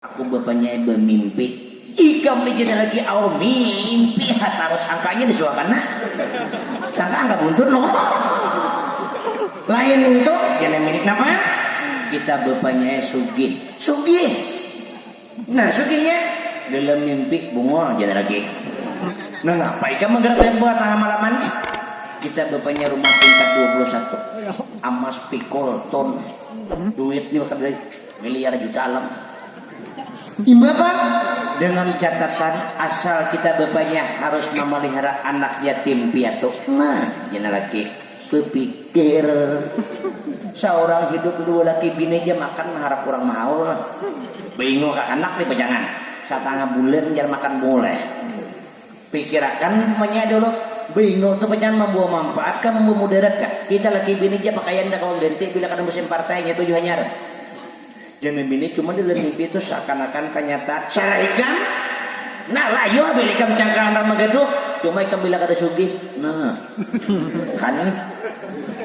Aku bapanyai bamimpi. Ikam ni jua lagi aur mimpi ha tarus sangka aja disuakan nah. Sangka angka buntut noh. Lain nintu kena milik napa? Kita bapanyai sugih. Sugih? Nah sugihnya? Dalam mimpi bungul jana lagi. Nangapa ikam manggarak banyak buah tangah malaman? Kita bapanyai rumah tingkat dua puluh satu. Amas pikul tun. Duit ni kada lagi. Miliar juta alam. Imbapa? Dengan catatan asal kita bapanya harus mamalihara anak yatim piatu. Nah, jana laki bapikir. Saurang hidup dua laki bini ja makan maharap urang mahaul. Baingul kakanak ni pajangan. Satangah bulan jar makan bungul ai. Pikirakan munya dulu, Bingo tu panyangan mambawa manfaat kah mambawa mudarat kah? Kita laki bini ja pakaian nda kawa ganti bila kada musim partai, nya baju hanyar. Jangan bini cuma dalam mimpi tu seakan akan kanyata, salah ikam, nah layuh bila ikam cangkalan ramak gaduh, cuma ikam bila kada sugih, nah kan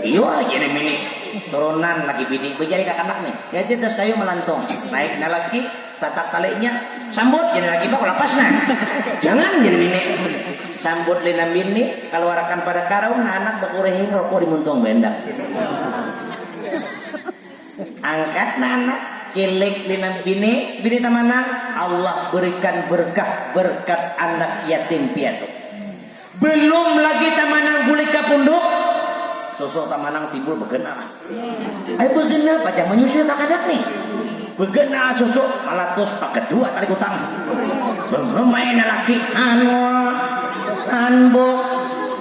iyuh jangan bini, turunan laki bini, bajari kakanak nih, lihat ja tas kayu malantung, naik nah laki. Tatak kalinya, sambut jadi laki bak lapas nah. Jangan jadi bini. Sambut lina bini, kaluarakan pada karung nah anak bakurihin rokok di muntung baendak. Angkat nah anak, kilik lina bini, bini tamanang, Allah berikan berkah berkat anak yatim piatu. Belum lagi tamanang bulik ka punduk, sosok tamanang timbul begana. Ai begana pacang menyusul kakadak nih. Begana sosok malatus pakadua tali kutang. Bengemai nalaki hanul, hanbuk,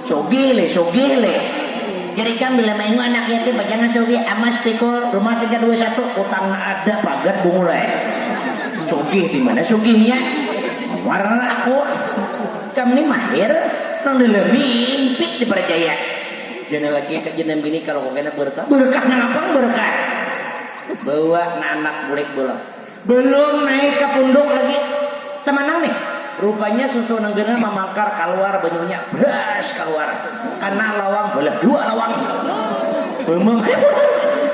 sugih leh, sugih leh. Jar ikam bila maingu anak yatim pacangan sugih, amas pikul, rumah tingkat dua satu, utang na ada pagat bungul ai. Sugih dimana sugihnya? Muar aku. Ikam ni mahir nang dalam mimpi diparcaya. Jangan laki ka jangan bini ka rokok kena berkah. Berkah nang apa nang berkah? Bawa na anak bulik bolong. Belum naik ka punduk lagi tamanang nih. Rupanya susu nang genah mamangkar kaluar banyunya bras kaluar kana lawang balah dua lawang. Bamam hai pulang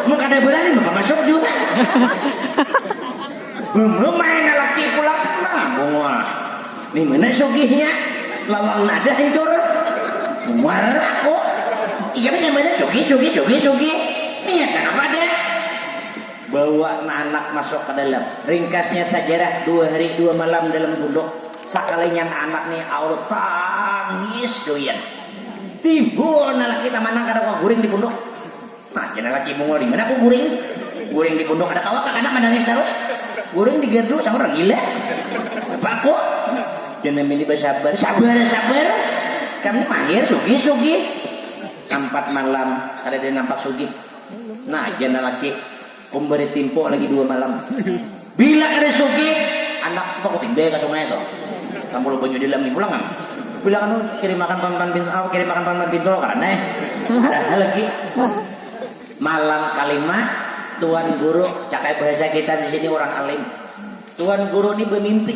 mun kada berani maka masuk jua. Bamam ai na laki pulang nah bungul. Ni mana sugihnya, lawang nada hancur, muar aku, ikam ini mana sugih sugih sugih sugih, nia kana pada. Bawa na anak masuk ka dalam, ringkasnya sajarah dua hari dua malam dalam gunduk, sakalinya na anak ni aul tangis gawian, timbul na laki tamanang kada kawa guring di punduk. Nah, kena laki Mongol ni. Mana aku guring? Guring di punduk anak awak, anak manangis tarus. Guring di gerdu, sama orang gila. Apa aku? Kena mini basabar. Sabar, sabar. Kam ni mahir, sugih, sugih. Ampat malam, kadada nampak sugih. Nah, kena laki. Kom bade timpo lagi dua malam. Bila kada sugih, andak supak kuting bae ka sungai tu. Tampul banyu di dalam ni pulang am. Bila kada sugih, kirimakan pan pan pintu apa kirimakan pan pan pintu kada ne. Ada ha lagi. Malam kalima, tuan guru, cakaya bahasa kita di sini urang alim. Tuan guru ni bamimpi.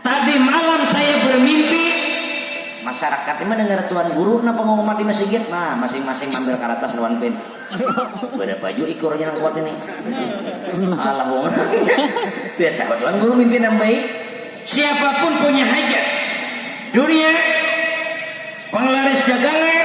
Tadi malam saya bermimpi, masyarakat ni mandangar tuan guru nang pangumuman di masigit, nah masing-masing maambil karatas lawan pen, barapa jua ikurnya nang kuat ini, alah wong nangnya tidak tahu tuan guru mimpi nang baik, siapapun punya hajat, durian, panglaris dagangan.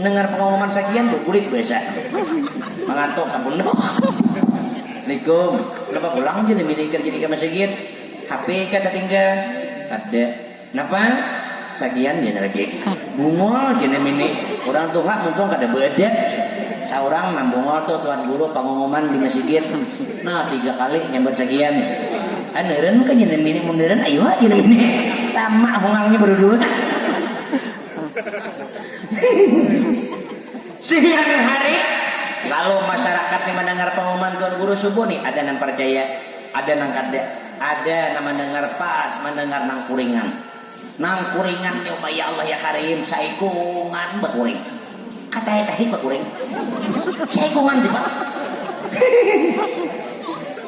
Mendengar pengumuman sakian berkulit biasa. Mengantuk ke pondok. Assalamualaikum. Kenapa pulang je lebih nikir jadi ke masigit? HP kah tertinggal? Kada. Kenapa? Sakian je rajin. Bungol je nang ini. Urang tuha muntung kada beadab. Saurang nang bungol tu tuhan guru pengumuman di masigit. Nah tiga kali nyambat sakian. Ah neren kah je nang ini. Mun neren ayuha je nang ini. Sama hungangnya bedudua. Siang hari, lalu masyarakat ni mandangar pangumuman Tuan Guru subuh ni, ada nang parjaya, ada nang kada, ada nang mandangar pas mandangar nang kuringan. Nang kuringan ni umai ya Allah ya Karim, saikungan bakuring. Katanya tadi ba kuring. Jaikungan jua.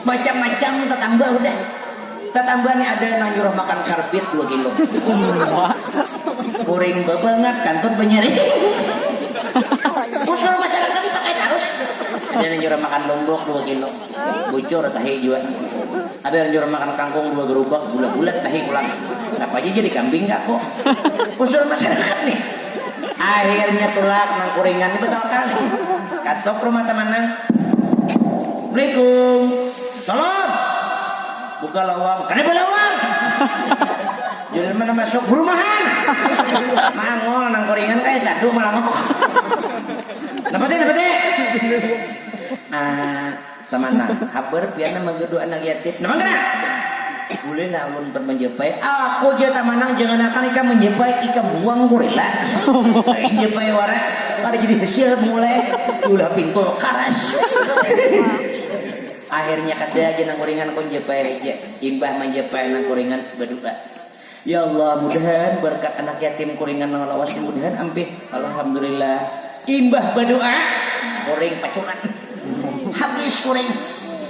Macam-macam tatamba hudah. Tatamba ni ada nang nyuruh makan karbit dua kilo. Kuring babangat, kantut banyaring. Mun suruh masalah karbit pakai tarus. Ada nang nyuruh makan lumbuk dua kilo. Tahi bocor, tahi jua. Ada nang jua makan kangkung dua gerubak, bulat-bulat tahi pulang. Napa ja jadi kambing ka aku. Usul masyarakat nih. Akhirnya tulak nang kuringan nih batawakal nih. Katuk rumah taman nang. Assalamualaikum. Salam. Buka lawang. Kada balawang. Jadi mana masuk rumahan. Mangol nang kuringan kaya sadu malanguk. Napa te, napa te. Ah, tamanang, habar pian nah manggaduh anak yatim. Napa ngaran? Bulih lah ulun umpat manjapai. Aku ja tamanang, jangan akan ikam manjapai, ikam buang gorila. Lain japai wara, kada jadi hasil mulai diulah pingkul karas. Akhirnya kada ja nang kuringan, ku japai haja. Imbah manjapai nang kuringan, badu'a. Ya Allah mudahan barkat anak yatim kuringan nang lawas ni mudahan ampih Alhamdulillah imbah badoa kuring pacuran habis kuring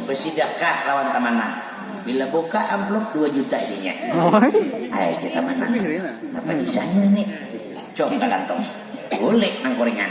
basidakah lawan tamanang bila buka amplop dua juta isinya ai jar tamanang napa kisahnya ni cok ka kantong bulik nang kuringan.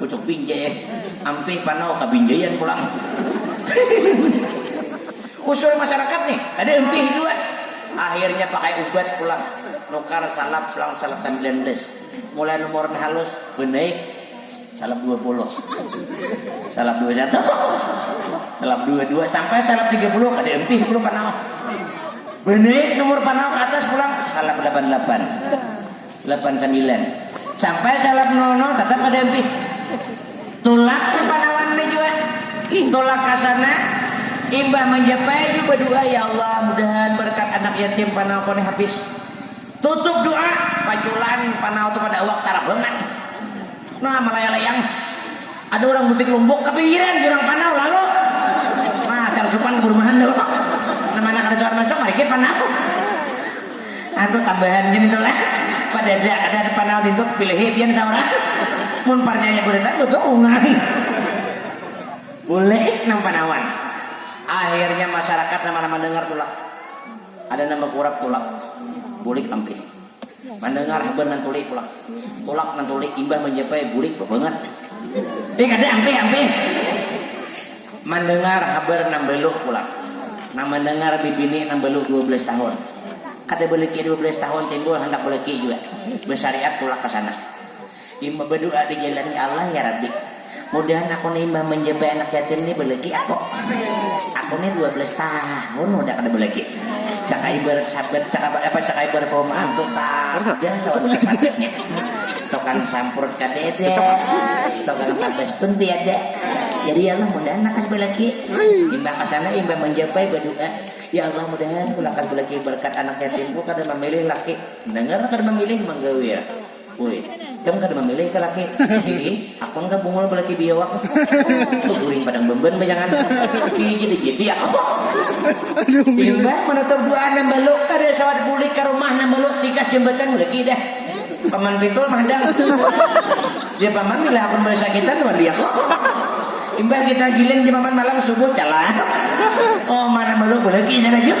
Pucuk pinjai eh. Ampih panau kabinjaian pulang. Usul masyarakat nih, kada ampih jua. Akhirnya pakai ubat pulang. Nukar salap selang salap sambilan belas. Mulai nomor nang halus banaik salap dua puluh. Salap dua satu. Salap dua dua. Sampai salap tiga puluh kada ampih pulang panau. Banaik nomor panau ka atas pulang salap lapan lapan. Lapan sambilan sampai salap nol nol tatap kada ampih tulak tu panawan ne jua tulak kasana imbah manjapai jua badua ya Allah mudahan barakat anak yatim panau ko ne habis tutup dua paculan panau tu kada awak tarabangan nah malayalayang. Ada urang butik lumbuk kapinggiran di urang panau lalu makan supan kaburumahan dulu nah mana kada suar masuk marikit panau atuh tambahan gin itu lah padada kada ada panau nintu kapilihi pian saurang mun parnyaya guritan tutuungan bulik nang panauan akhirnya masyarakat nang mana mandangar tulak ada nang bakurap tulak bulik ampih. Mandangar haban nang tulik tulak. Tulak nang tulik imbah manjapai bulik babangat. Deh kada ampih ampih. Mandangar habar nang baluh tulak. Nang mandangar bibini nang baluh dua belas tahun. Kada balaki dua belas tahun timbul handak balaki jua. Basariat tulak ka sana. Imbah badu'a dijalani Allah, ya Rabbi, mudahan aku ni imbah manjabai anak yatim ni balagi aku. Aku ni dua belas tahun hudah kada balagi. Caka ibarat sabat caka caka ibarat pauma hantu tadah lawan sabatannya. Tukang sampurut kadada, tukang tabas pun tiada. Jadi ya Allah mudahan lakas balagi. Imbah ka sana imbah manjabai badu'a, ya Allah mudahan ku lakas balagi barkat anak yatimku kada mamilih laki. Nangar kada mamilih manggawil. Uy, ikam kada mamilih ka laki bini, hakun ka bungul balaki biawak, baguring padang bemban bajangan, biji dijiti aku. Imbah manutup du'a nang balu kada sawat bulik ka rumah nang balu tikas jambatan balaki dah. Paman pikul mahadang, jar paman bila hakun balai sakitan wan dia aku. Imbah kita giling jar paman malam subuh calah omah nang balu balaki sana jua.